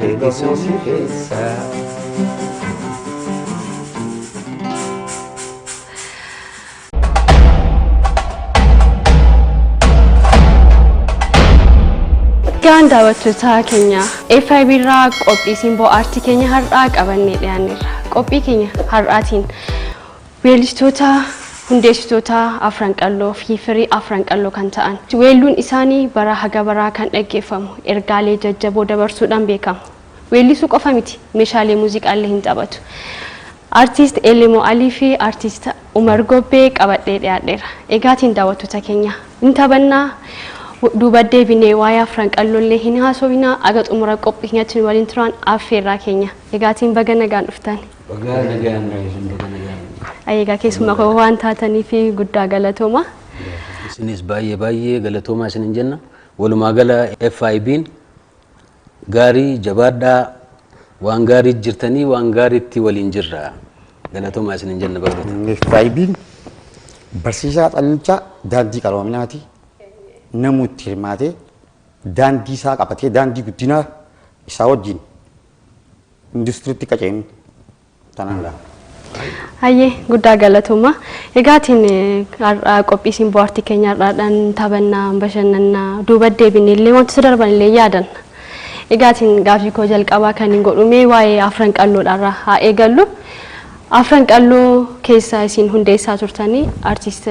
deebisuu si keessa. Gaan daawwattootaa keenya FIB irraa qophii simboo aartii keenya har'aa qabannee dhiyaanneerra. Qophii keenya har'aatiin Weellistoota hundeessitootaa Afran Qalloo fi firii Afran Qalloo kan ta'an. Weelluun isaanii baraa haga baraa kan dhaggeeffamu, ergaalee jajjaboo dabarsuudhaan beekamu. Weellisuu qofa miti, meeshaalee muuziqaallee hin taphatu. Artiist Elemo Alii fi Artiist Umar Gobbee qabadhee dhiyaadheera. Egaatiin daawwattoota keenya, hin taphannaa, duuba deebinee waa'ee Afran Qalloollee hin haasofnaa, haga xumura qophii keenyatti nu waliin turaan affeerraa keenya. Egaatiin baga nagaan dhuftan. Bagaa nagaan nu eegan baga nagaan nu eegan. Ayi egaa keessummaa koo waan taataniif guddaa galatooma. Isinis baay'ee baay'ee galatoomaa isinin jenna. Walumaa gala FIB'n gaarii jabaadhaa waan gaarii jirtanii waan gaariitti waliin jirra. Galatoomaa isinin jenna barattoota. FIB'n barsiisaa xannichaa daandii qaroominaati. Namuu itti hirmaatee daandii isaa qabatee daandii guddinaa isaa wajjin industiriitti akka ceenu tanaan gaha. Hayyee guddaa galatooma. Egaatiin har'aa qophii isin bohaartii keenya har'aadhaan taphannaa, bashannannaa, duuba deebinee illee wantoota darban illee yaadanna. Egaatiin gaaffii koo jalqabaa kan hin godhu mee waa'ee afran qalloodha irraa haa eegallu. Afran qalloo keessa isin hundeessaa turtanii artiist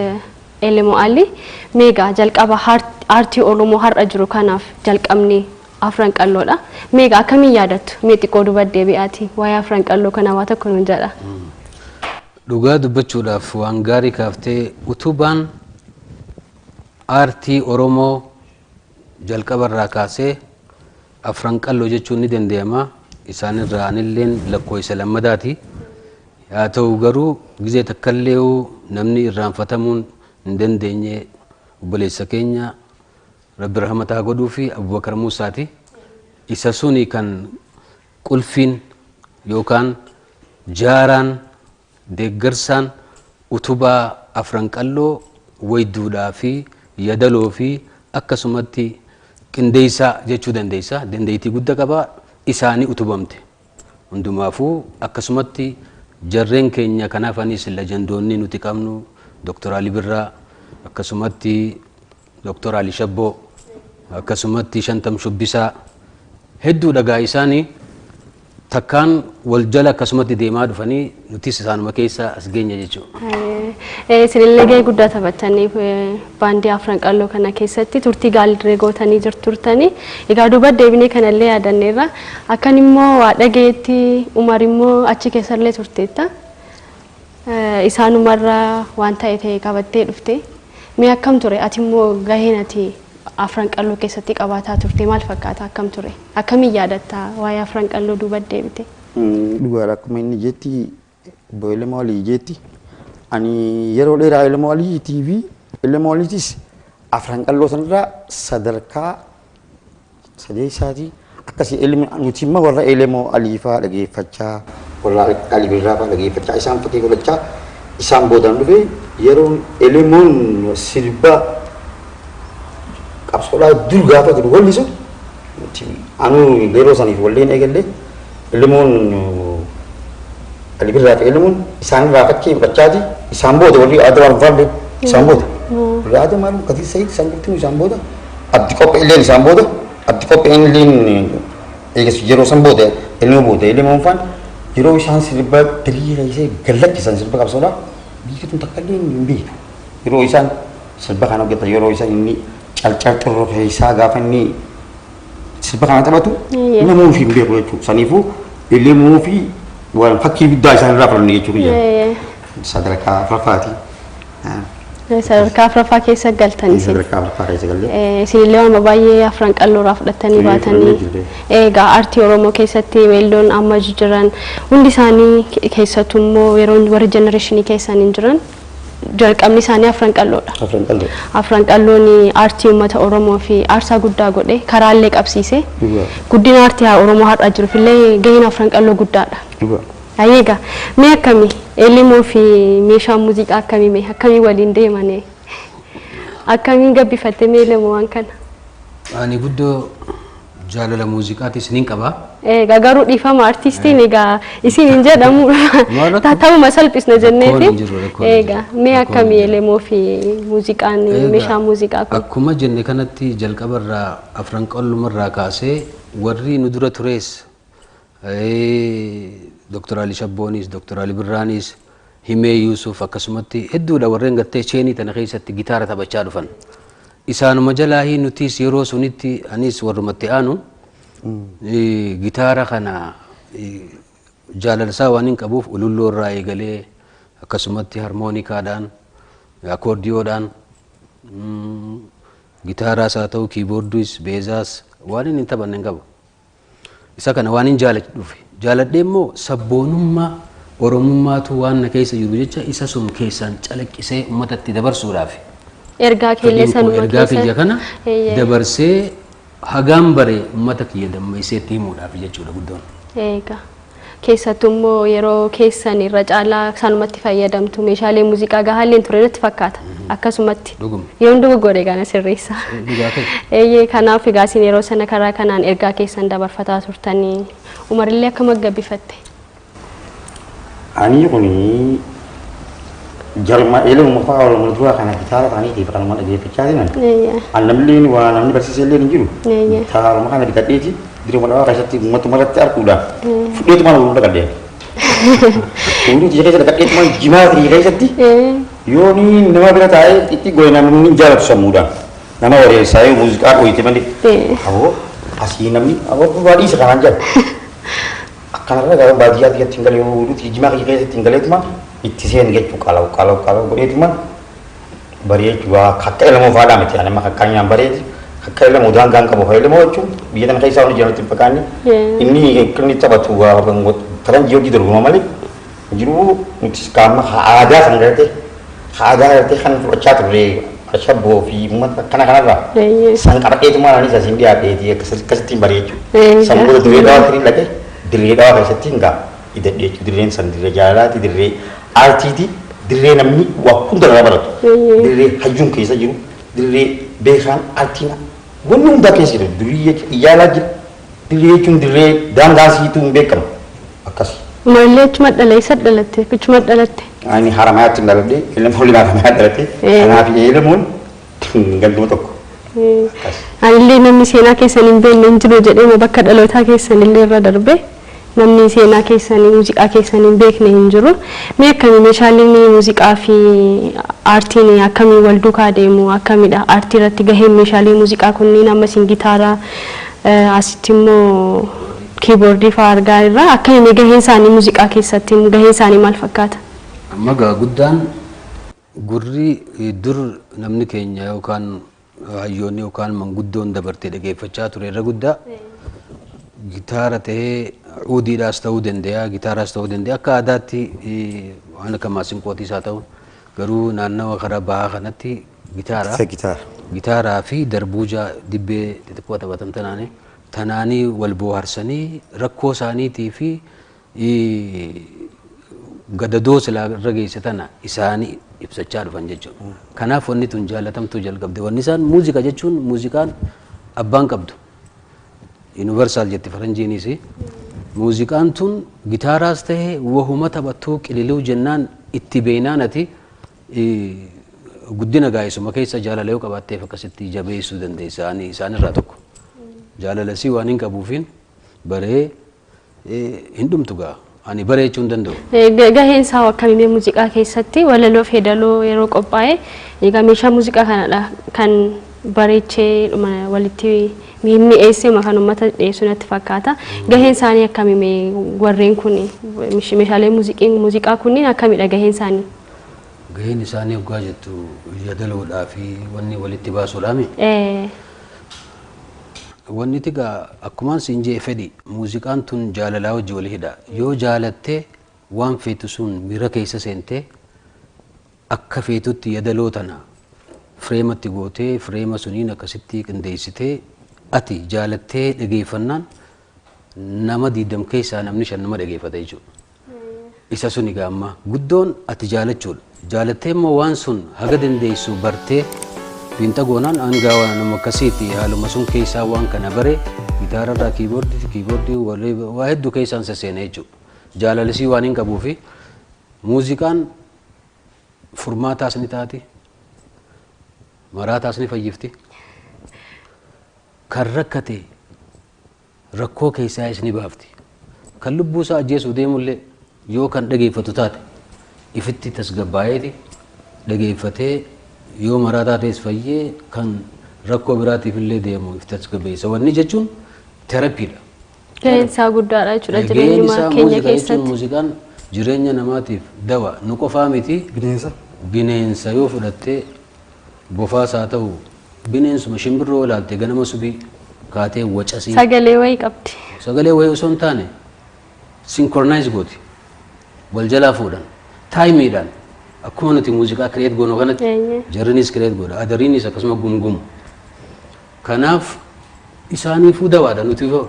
Elemoo Alii meegaa jalqaba aartii Oromoo har'a jiru kanaaf jalqabni Afran Qalloo dha. Mee egaa akkamiin yaadattu? Mee xiqqoo duuba deebi'aatii waa'ee Afran Qalloo kanaa waa tokko nuun jedhaa. Dhugaa dubbachuudhaaf waan gaarii kaaftee utubaan aartii Oromoo jalqaba irraa kaasee Afran Qalloo jechuun ni danda'ama. Isaan irraa anilleen lakkoo isa lammadaati. Haa ta'u garuu gizee takkallee namni irraanfatamuun hin dandeenye obboleessa keenya Rabbi rahmata ha godhuufi Abubakar Muusaati. Isa suni kan qulfiin yookaan jaaraan, deeggarsaan, utubaa afran qalloo wayduudhaa fi yadaloo fi akkasumatti qindeessaa jechuu dandeessa. Dandeettii gudda qaba. Isaani utubamte. Hundumaafuu akkasumatti jarreen keenya kan hafanis lejandoonni nuti qabnu Dr. Ali Birraa, akkasumatti Dr. Ali Shabboo, akkasumatti Shantam Shubbisaa hedduudha egaa isaani takkaan wal jala akkasumatti deemaa dhufanii Nutis isaanuma keessa as geenye jechuudha. Ee, Isinillee gahee guddaa taphattanii eh, baandii afran qalloo kana keessatti turtii gaaldirree gootanii jirtu turtanii. Egaa duuba deebinee kanallee yaadanneerra. Akkan immoo waa dhageetti Umar immoo achi keessallee turteetta. Eh, Isaanumarra waan ta'e ta'e qabattee dhufte. Mee akkam ture? Ati immoo gaheen ati afran qalloo keessatti qabaataa turte maal fakkaata? Akkam ture? Akkamiin yaadatta waa'ee afran qalloo duuba deebite? Dhugaadha akkuma inni jetti obbo Elemoo Alii jetti ani yeroo dheeraa Elemoo Alii TV Elemoo Aliitis afran qalloo sanarraa sadarkaa sadeessaatii akkasii Elemoo nuti immoo warra Elemoo Alii fa'aa dhageeffachaa warra Alii Birraa fa'aa dhageeffachaa isaan fakkii godhachaa isaan boodaan dhufe yeroon Elemoon sirba qabsoodhaa dur gaafa jiru wallisu nuti anuu yeroo saniif walleen eegallee Ilmuun Ali Birraa fi Ilmuun isaan irraa fakkii fudhachaati. Isaan booda warri Adawaan Vaalli isaan booda. Warri Adam Alu Kadir Said isaan jirtu isaan booda. Abdi Qophee illeen isaan booda. Abdi Qophee illeen eegas yeroo san booda ilmoo booda ilmoon faan yeroo isaan sirba birii reessee gallakkisan sirba qabsoodha. Biyyi tun takka illee hin beektu. Yeroo isaan sirba kan hojjetan yeroo isaan inni calcal xurroo keessaa gaafa inni sirba kana taphatu Eeyyee. nama ofii hin beeku jechuudha. Saniifuu illee immoo ofii waan fakkii guddaa isaan irraa fudhanne jechuu kiyya. Ee, Sadarkaa afuraffaati. ee, sadarkaa afraffaa keessa galtan isin. Sadarkaa afuraffaa keessa galle. Ee, Isinillee waan baay'ee afran qalloo irraa fudhattanii Ee, baatanii. fudhannee jirre. Egaa aartii Oromoo keessatti weelloon amma jiran hundi isaanii keessattuu immoo yeroo warri jenereeshinii keessan hin jiran jalqabni isaanii afran qalloodha. Afran qalloodha. Afran qalloon aartii uummata Oromoo fi aarsaa guddaa godhe karaa illee qabsiise. Guddina aartii Oromoo har'aa jiruuf illee gaheen afran qalloo guddaadha. Ayyee egaa mee akkami Elimoo fi meeshaan muuziqaa akkamii mee akkamii waliin deemane akkamiin gabbifatte mee Elemoo waan kana? Ani guddoo Jaalala muuziqaatiis nin qaba. Egaa garuu dhiifama artiistiin egaa isin hin jedhamu ta'uma salphisna jenneeti. Egaa mee akkamii elemoo fi muuziqaan meeshaa muuziqaa kun? Akkuma jenne kanatti jalqabarraa afran qallumarraa kaasee warri nu dura turees Doktar Ali Shabboonis, Doktar Ali Birraanis, Himee Yuusuf akkasumatti hedduudha warreen gartee cheenii tana keessatti gitaara taphachaa dhufan. Isaanuma jalaahi nutis yeroo sunitti anis warrumatti aanu eh, gitaara kana eh, jaalalsaa waan hin qabuuf ululloo irraa eegalee akkasumatti harmoonikaadhaan akoordiyoodhaan mm, gitaaraas haa ta'u kiiboordiis beezaas waan inni hin taphanne hin qabu. Isa kana waanin jaaladhuufi. Jaaladhee immoo sabboonummaa Oromummaatu waan na keessa jiru jecha isa sun keessaan calaqqisee ummatatti dabarsuudhaafi. Ergaa kee illee Fedhiin koo sanuma ergaa keessa. kiyya kana Eeyyee. dabarsee hagaan bare ummata kiyya damma'iseetti himuudhaafi jechuudha guddoon. Eegaa. Keessattuu immoo yeroo keessan irra caalaa isaanumatti fayyadamtu. Meeshaalee muuziqaa gahaallee hin ture natti fakkaata. Akkasumatti. Dhuguma. Yoon dogoggore egaa na sirreessa. Dhugaa kee. Eeyyee kanaaf egaa isin yeroo sana karaa kanaan ergaa keessan dabarfataa turtanii. Umarillee akkam gabbifatte? Anii kunii Jaruma eelee uummafaa Oromoo duraa kana kitaaba isaaniitiif kanuma dhageeffachaa jiran. Eeyyee. An namni waa namni barsiisee illee hin jiru. Eeyyee. Kitaabuma kana bitadheeti diruma dhawaa keessatti uummatuma irratti arguudhaaf fudheetuma na uumuu dhaqadheen. Uumuu tiyya keessa dhaqadheetuma jimaa tiyya keessatti Ee. yoo ni nama bira taa'ee itti goone namni hin jaalatu sammuudhaan. Nama wareessaa yoo muuziqaa dhooyite malee. Ee. Aboo asii namni aboo baadhiisa kanaan jala. Akkana irra garuu baadiyyaa tiyyatti hin galee yoo oolutti jijjimaa kiyya keessatti hin galeetuma itti seene jechuu qalaw qalaw qalaw godheetuma baree jechuu waa kakka ilamoo faadhaa miti ani amma kakkaa nyaan bareeti kakka ilamoo daangaa hin qabu fayyadamoo jechuu biyya tana keessaa waan hojjetan itti hin fakkaanne inni inni taphatu waa faranjii hojii dorgoma malee jiruu nutis kaa amma haa aadaa san garatee haa aadaa garatee kan fudhachaa turre ashabboo fi uummata akkana kanarraa Eeyyee. san qabadheetumaan anis asiin dhiyaadheetii akkas- akkasittiin baree Eegaa. jechuudha. San booda dirree dhawaa kiriin dhaqee dirree dhawaa keessatti hin gaa idadhee jechuudha. Dirreen san dirree jaalalaati dirree aartiiti dirree namni waa hunda irraa baratu Eeyyee. dirree hayyuun keessa jiru dirree beekaan aartiin wanni hundaa keessa jiru durii jechuudha ijaalaa jira Dirree jechuun dirree daangaa isiitu hin beekamu. Akkasi. Marillee achuma dhala eessatti dhalatte? Achuma dhalatte? Ani Haramayaatti hin dhaladhe. Eelam waliin Haramayaa dhaladhe. Ee. Kanaaf eelamuun ganduma tokko. Akkas. Anillee namni seenaa keessan hin beekne hin jiru jedheema bakka dhalootaa keessan illee irra darbe. Namni seenaa keessan muuziqaa keessan hin beekne hin jiru. Mee akkami meeshaaleen muuziqaa fi aartiin akkamiin wal duukaa deemu? Akkamidha aartii irratti gaheen meeshaalee muuziqaa kunniin amma isin gitaara asitti immoo kiiboordii fa'aa argaa irra. Akkami mee gaheen isaanii muuziqaa keessatti gaheen isaanii maal fakkaata? Amma egaa guddaan gurri dur namni keenya yookaan hayyoonni yookaan manguddoon dabartee dhageeffachaa ture irra guddaa gitaara ta'ee udiidhaas ta'uu danda'a gitaaraas ta'uu danda'a akka aadaatti eh, waan akka maasinqootiis haa ta'u garuu naannawa karaa bahaa kanatti gitaara Isa gitaara. gitaaraa fi darbuuja dibbee xixiqqoo taphatan tanaanii tanaanii wal booharsanii rakkoo isaaniitii fi gadadoo silaa irra geesse tana isaani ibsachaa dhufan jechuudha. Kanaaf wanni tun jaalatamtuu jalqabde. Wanni isaan muuziqa jechuun muuziqaan abbaan qabdu. Universal jetti faranjiinis. Muuziqaan tun gitaaraas ta'e wahuma taphattuu qililuu jennaan itti beeynaan ati guddina gaa'eessuma keessa jaalala yoo qabaatteef akkasitti jabeessuu dandeessa. Ani isaanirraa tokko. Jaalalasii waan hin qabuufiin baree Hin dhumtu gaa ani bare jechuu hin danda'u. Gaheen isaa hoo akkami mee muuziqaa keessatti walaloof hedaloo yeroo qophaa'e egaa meeshaa muuziqaa kanadha kan bareechee dhuma walitti mi'eessee kan uummata dhiyeessu natti fakkaata. Gaheen isaanii akkami mee warreen kun meeshaalee muuziqaa kunniin akkamidha gaheen isaanii? Gaheen isaanii hoggaa jettu yadaloodhaa fi wanni walitti baasuudhaami? Ee. Wanniti egaa akkumaan siin je'e fedhi. Muuziqaan tun jaalalaa wajji wali hidha. Yoo jaalatte waan feetu sun miira keessa seente akka feetutti yadaloo tana fireematti gootee fireema suniin akkasitti qindeessitee ati jaalattee dhageeffannaan nama diidam keessaa namni shan nama dhageeffata jechuudha. Isa sun egaa amma guddoon ati jaalachuudha. Jaalattee immoo waan sun haga dandeessu bartee fiinxa goonaan hangaa waan nama akkasiiti haaluma sun keessaa waan kana bare gitaara irraa kiiboordii kiiboordii walii waa hedduu keessaan sasseena jechuudha. Jaalalisii waan hin qabuu fi muuziqaan furmaataas ni taati maraataas ni fayyifti. Kan rakkate rakkoo keessaa is ni baafti. Kan lubbuu isaa ajjeesuuf deemullee yoo kan dhageeffatu taate ifitti tasgabbaa'eeti dhageeffatee yoo maraa taatees fayyee kan rakkoo biraatiif illee deemu if tasgabbeessa. Wanni jechuun terapiidha. Gaheen isaa guddaadha jechuudha Gaheen jireenyuma isaa keenya muuziqaa jechuun keessatti. muuziqaan jireenya namaatiif dawa nu qofaa miti Bineensa. bineensa yoo fudhattee Bofaas haa ta'u bineensuma shimbirroo ilaalte ganama subii kaatee wacasii. Sagalee wayii qabdi. Sagalee wayii osoo hin taane synchronise gooti. Wal jalaa fuudhan. Taayimiidhaan akkuma nuti muuziqaa create goonu kanatti Eeyyee. jarrinis create godha. Adariinis akkasuma gumgumu. Kanaaf isaaniifuu dawaadha nuti hoo.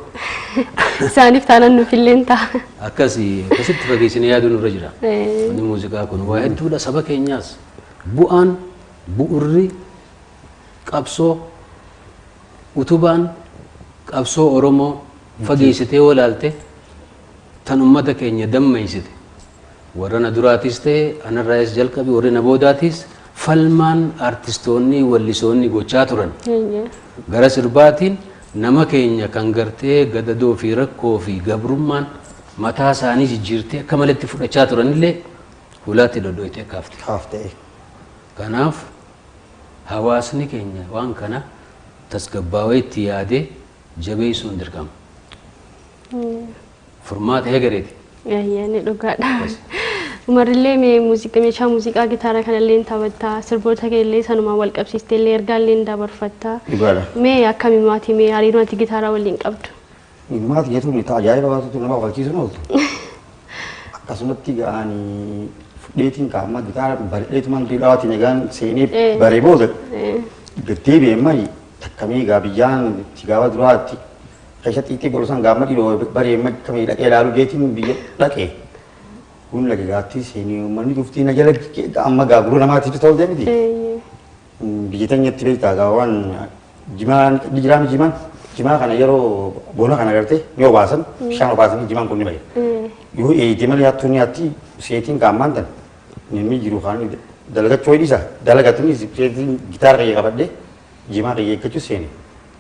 Isaaniif taanan nuuf illee hin ta'a. Akkasi akkasitti fageessinee yaaduu nurra jira. Eh. Inni muuziqaa kun waa hedduudha saba keenyaas bu'aan bu'urri qabsoo utubaan qabsoo Oromoo fageessitee walaalte tan ummata keenya dammeessite Warra na duraatiis ta'e anarraayis jalqabi warri na boodaatiis falmaan artistoonni wallisoonni gochaa turan Eeyyee. gara sirbaatiin nama keenya kan gartee gadadoo fi rakkoo fi gabrummaan mataa isaanii jijjiirtee akka maletti fudhachaa turanillee hulaatti dhodhoytee kaafte. Kaaftee. Kanaaf hawaasni keenya waan kana tasgabbaawee itti yaadee jabeessuun dirqama. Eeyyee. Furmaata hegereeti. Ayyaanni dhugaadha. Umarillee mee muuziqa meeshaa muuziqaa gitaara kanallee taphatta sirboota kee illee sanumaan wal qabsiistee illee ergaa illee dabarfatta. Dhugaadha. Mee akkami maatii mee hariiroo ati gitaaraa waliin qabdu? Maati jechuun ni ta'a ajaa'iba waantoota nama kofalchiisu hin ooltu. Akkasumatti ga'ani fudheetiin kaa'ammaa gitaara bareedheetumaan duudhaatiin egaan seenee Eh. baree booda Eh, deddeebi'e mali takkamee egaa biyyaan itti gaafa duraatti Keessa xiiqii bolosan gaammadii doo baree mad kamee dhaqee laalu jeetiin biyya dhaqee. Kun lagi gaattii seenii uummanni dhuftii na jala amma gaa gurra namaatti itti ta'u deemiti. Biyya teenyatti beektaa gaa waan jimaan jiraami jimaan jimaa kana yeroo bona kana gartee ni obaasan bishaan obaasanii jimaan kun ni baya. Yoo eeyitee malee hattuu ni hatti seetiin gaammaan tan namni jiru kaan dalagachuu hidhisa dalagatunis seetiin gitaara qayyee qabadhee jimaa qayyee eeggachuu seenee.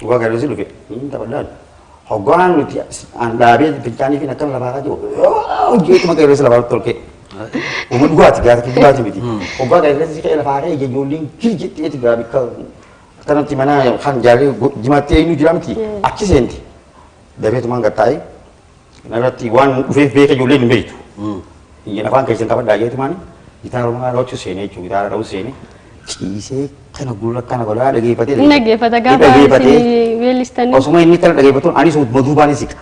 Dhugaa galee si dhufe. Hin taphadhaan. Hoggaan nuti an dhaabee bilchaanii fi akkam lafaa jiru. Hojjetuma qeerree si lafaa tolkee. Uma dhugaati gaati dhugaati miti. Hoggaa qeerree si ka'ee lafaa ka'ee ijoolleen kirjitti eti gaa bikka akkanatti mana kan jaallee jimaatti eenyu jira miti achi seenti. Dabeetumaan gattaa'ee Kanarratti waan nu dhufeef beeka ijoolleen hin beektu. Hin jedha afaan keessan qabadhaa jeetu maani gitaara manaa dhawachuu seenee jechuudha gitaara dhawuu seenee ciisee kana gurra kana godhaa dhageeffatee. Hin dhaggeeffata gaafa isin weellistanii. Osuma inni kana dhageeffatuun anis utuma duubaan siqa.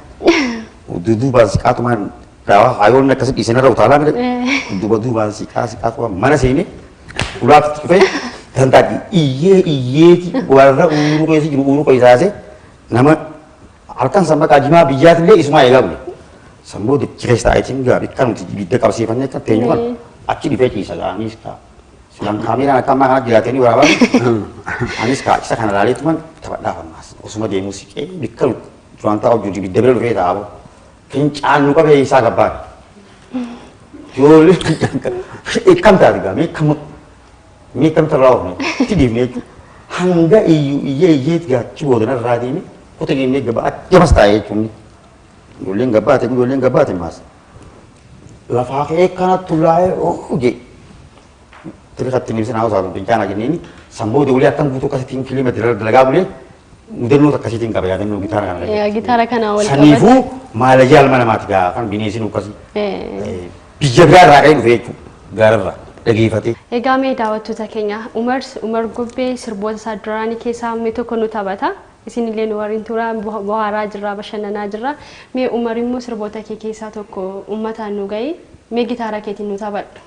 Utuu duubaan siqaa tumaan daawaa haayoonni akkasii dhiisanii irra utaalaa mire duuba duubaan siqaa siqaa tumaan mana seenee ulaatti dhufee tantaadhi iyyee iyyeeti warra uuruu keessa jiru uuruu keessaasee nama Halkan sanbataa jimaa biyyaatillee isumaa eegaa bule. San booda achi keessa taa'eetiin gaa bikka nuti ibidda qabsiifannee akka teenyu kan Ee. achi dhufee ciisa gaa anis kaa. Silaan kaameeraan akka ammaa kanatti dhiyaatanii waraabamu. Anis kaa isa kana laalee tuman taphadhaaf ammaas. Osuma deemuu siqee bikka nuti duraan taa'u jiru ibidda bira dhufee taa'amu. Fincaan nu qabee isaa gabbaan. Ijoollee fincaan kan. Ikkam taate gaa mee kam Mee kamtu irraa oofne? Itti dhiifne jechuudha. Hanga iyyuu iyyee iyyeet gaachi boodana irraa deeme kuta jennee gabaa jabas taa'ee jechuun ijoolleen gabaate ijoolleen gabaate maas. Lafaa ka'ee kanattu laa'ee oofu jee. Tiri katti nimsa naa osaatu bincaana jenneeni samboo doolee akkan guutuu akkasitiin kilima dira dalagaa bulee mudannoo akkasitiin qaba yaadannoo gitaara kana. Yaa gitaara kana wal qabate. Saniifuu maalajaal mana maati gaa kan bineesiin ukkasi. Eh. Biyya biraa irraa ka'ee dhufee jechuudha. Gaara irraa dhageefatee. Egaa mee daawattoota keenya Umar Umar Gubbee sirboota isaa duraanii keessaa mee tokko nu taphata. Isin illee nu waliin tura bohaaraa jirra bashannanaa jirra. Mee Umar immoo sirboota kee keessaa tokko uummataan nu ga'i. Mee gitaara keetiin nu taphadhu.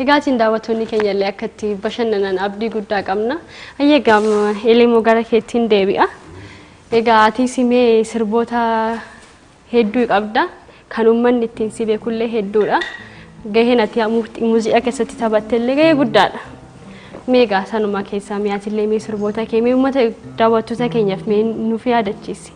Egaatiin daawwattoonni keenya illee akka itti bashannanan abdii guddaa qabna. Hayyee egaa Elemoo gara keettiin deebi'a. Egaa atis mee sirboota hedduu qabda. Kan uummanni ittiin si beekullee hedduudha. Gaheen ati muuziqaa keessatti taphattellee gahee guddaadha. Mee egaa sanuma keessaa mee atillee mee sirboota kee mee uummata daawwattoota keenyaaf mee nuuf yaadachiisi.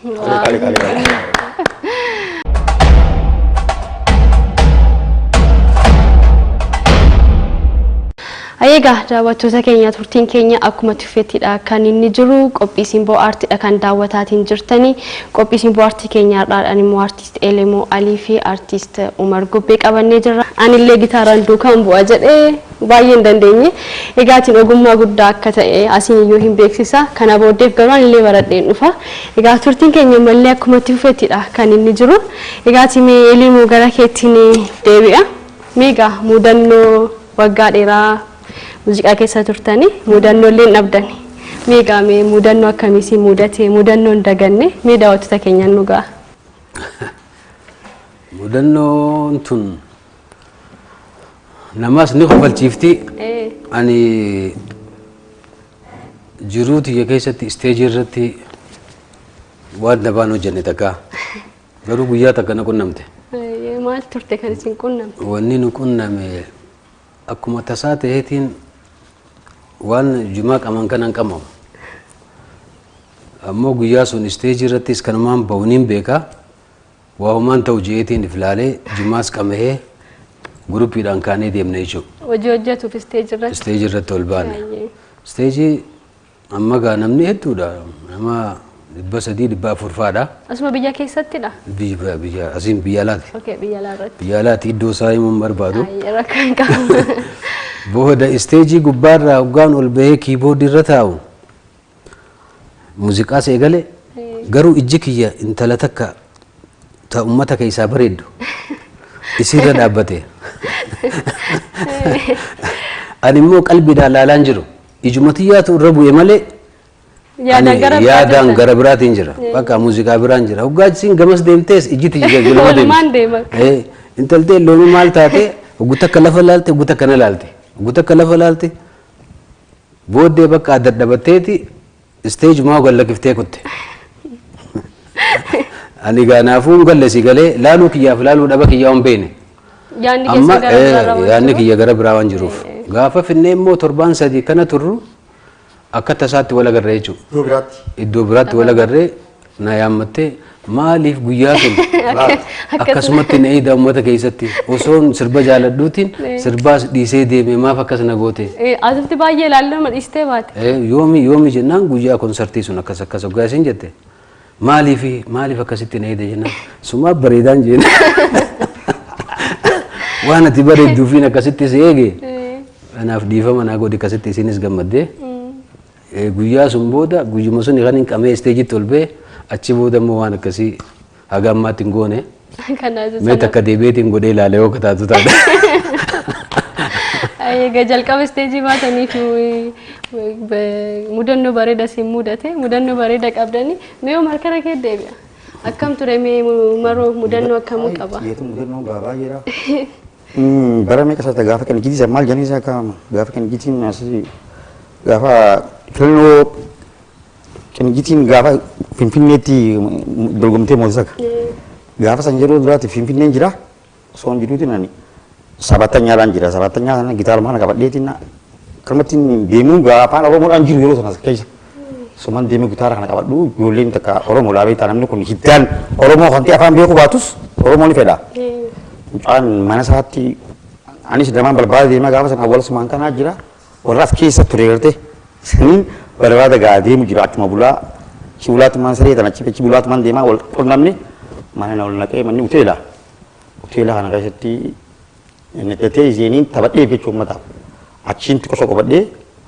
Qali, qali, qali. Egaa daawwattoota keenya turtiin keenya akkuma tuffettidha kan inni jiru qophii simboo aartiidha kan daawwataatiin jirtani qophii simboo aartii keenya har'aadhaan immoo aartiist Elemoo Alii fi aartiist Umar Gubbee qabannee jirra. Anillee gitaaraan duukaan bu'a jedhee Baay'ee hin dandeenye. Egaatiin ogummaa guddaa akka ta'e asiin iyyuu hin beeksisa. Kana booddeef garuu ani illee baradheen dhufa. Egaa turtiin keenya ammallee akkuma itti fufetti dha kan inni jiru. Egaati mee Eliimoo gara keettiin deebi'a. Mee egaa muudannoo waggaa dheeraa muuziqaa keessa turtanii muudannoo illee hin dhabdani. Mee egaa mee muudannoo akkamii si muudate muudannoo hin daganne mee daawwattoota keenyaan nu ga'a. Muudannoon tun Namaas ni kofalchiifti. Ee. Ani jiruu tiyya keessatti isteejii irratti waan dabaan hojjenne takka. Garuu guyyaa takka na qunnamte. Ee, Maal turte kan isin qunname? Wanni nu qunname akkuma tasaa ta'eetiin waan jumaa qaman kanan qamamu. Ammoo guyyaa sun isteejii irrattis kanumaan ba'uun hin beeka. Waa homaan ta'u je'eetiin if laalee jimaas qamahee gurupiidhaan kaanee deemne jechuudha. Hojii hojjetuuf isteeji irratti. Isteeji irratti ol baane. Baay'ee. Isteeji amma gaa namni hedduudha. Nama dhibba sadii dhibba afur fa'aadha. Asuma biyya keessattidha? Biyya biyya asiin biyya alaati. Okee biyya alaa irratti. Biyya alaati iddoo isaa himuu hin barbaadu. Baay'ee rakkoo hin qabu. Booda isteejii gubbaarraa hoggaan ol bahee kiiboordii irra taa'u Muuziqaas eegale garuu ijji kiyya intala takka ta ummata keessaa bareeddu isiirra dhaabbate. Ani immoo qalbiidhaan laalaan jiru. Ijuma tiyyaatu irra bu'e malee ani Yaadaan gara biraa yaadaan jirta. gara biraatiin jira. Bakka muuziqaa biraan jira. Hoggaa isiin gamas deemtees ijji tiyya jajjirama Walumaan deema. Eh, Intaltee loonii maal taate hoggu takka lafa laalte hoggu takka na laalte. Hoggu takka lafa laalte Booddee bakka dadhabatteeti isteejumaa gad lakkiftee kutte. Ani egaa naafuu hin galle si galee laaluu kiyyaaf laaluu dhaba kiyyaa hin beekne. Yaadni Amma keessa gara biraarra waan yaadni jiruuf. kiyya gara biraa waan jiruuf. Gaafa finnee immoo torbaan sadii kana turru akka tasaatti wal agarra jechuudha. Iddoo biraatti. Iddoo biraatti wal agarree Na yaammattee maaliif guyyaa sun akkasumatti na eeda uummata keessatti osoon sirba jaaladhuutiin sirbaas dhiisee deeme maaf akkas na goote. Asitti baay'ee ilaallama dhiistee baate. Yoomi yoomi jennaan guyyaa konsartii sun akkas akkas hoggaa isin jette maaliif maaliif akkasitti na eeda jennaan sumaa bareedaan jeena waan ati bareedduufiin akkasitti si eege kanaaf dhiifama naa godhi akkasitti isinis gammaddee. Guyyaa sun booda guyyuma suni kanin qamee isteejitti ol ba'e achi booda immoo waan akkasii haga ammaatti hin goone. Mee takka deebi'eetiin godhee ilaale yoo akka taatu taate. Egaa jalqaba isteejii baataniif mudannoo bareeda siin mudate mudannoo bareeda qabdanii mee yoo markara kee deebi'a. Akkam ture mee maroo mudannoo akkamii qaba? Mudannoo baay'eedha. Bara meeqa isaa gaafa qinijjitii isaa maal jedhanii isaa kaa'ama gaafa qinijjitiin asii gaafa filannoo qinijjitiin gaafa finfinneetti dorgomtee moosisaka gaafa san yeroo duraatti finfinneen jira osoo hin jiruutiin ani sabatanyaadhaan jira sabatanyaa sana gitaara maana qabadheetiin kalmattiin deemuun gaafa afaan oromoodhaan jiru yeroo sana keessa. Suman deemee gitaara kana qabadhu ijoolleen takka Oromoo dhaa beektaa namni kun hiddaan Oromoo kan ta'e afaan beeku baatus Oromoo ni fedha. Mucaan mana isaatti anis damaan barbaada deemaa gaafa sana awwaala sumaan kanaa jira warra as keessa ture garte saniin barbaada gaa deemu jira achuma bulaa achi bulaa tumaan saree tan achi achi bulaa tumaan deemaa wal qunnamne mana na ol naqee manni hoteela hoteela kana keessatti inni ta'ee isheen taphadhee jechuun uummataaf achiin xiqqoo soqobadhee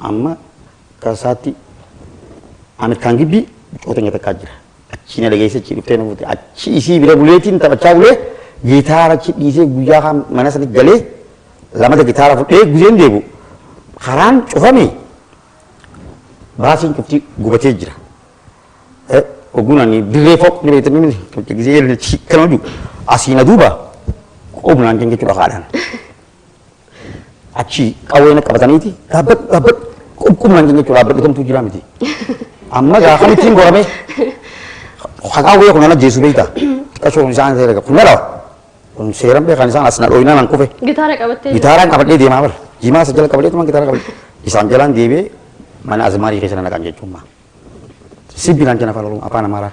amma Akka isaatti an akkaan gibbii biqiltoota nyaata akkaa jira. Achii na dhageesse achii dhuftee na fuute. Achii isii bira buleetiin taphachaa bulee gitaara achi dhiisee guyyaa kaan mana sani galee lamata gitaara fudhee guzeen deebu karaan cufame baasiin cufti gubatee jira. Oguun ani dirree fooq ni beektan miti kan gisee kan hojii asii na duuba qubnaan kan jechuudha kaadhaan. Achii qawwee na qabataniiti dhaabbadhu dhaabbadhu qubqubnaan keenya jechuudha dhaabbadhu kamtuu jira miti. Amma gaa kamittiin goramee haqaawwee kun ana jeesu beekta xiqqashoon isaan ta'e dhaga kun na dhawa kun seeran beekan isaan as na dhooyinaa nan kufe Gitaara qabattee gitaaraan qabadhee deemaa bara jimaa isa jala qabadhee tumaan gitaara qabadhee isaan jalaan deebi'ee mana azimaarii keessa na naqan jechuun maa sibbi naan jenna afaan oromoo afaan amaaraa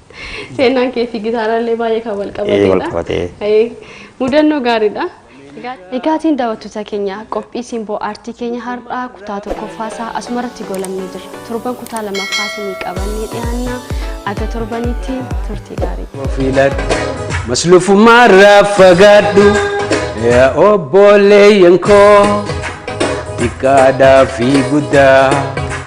Seenaan kee fi gitaaraallee baay'ee kan wal qabatedha. Wal qabatee. Mudannoo gaariidha. Egaatiin daawwattoota keenya qophii simboo aartii keenya har'aa kutaa tokkoffaasaa asumarratti goolabnee jirra. Torban kutaa lammaffaa isinii qabannee dhiyaanna. Aga torbaniitti turtii gaarii. Ofiilaadhu maslufummaa irraa fagaadhu yaa obboleeyyan koo xiqqaadhaa fi guddaa.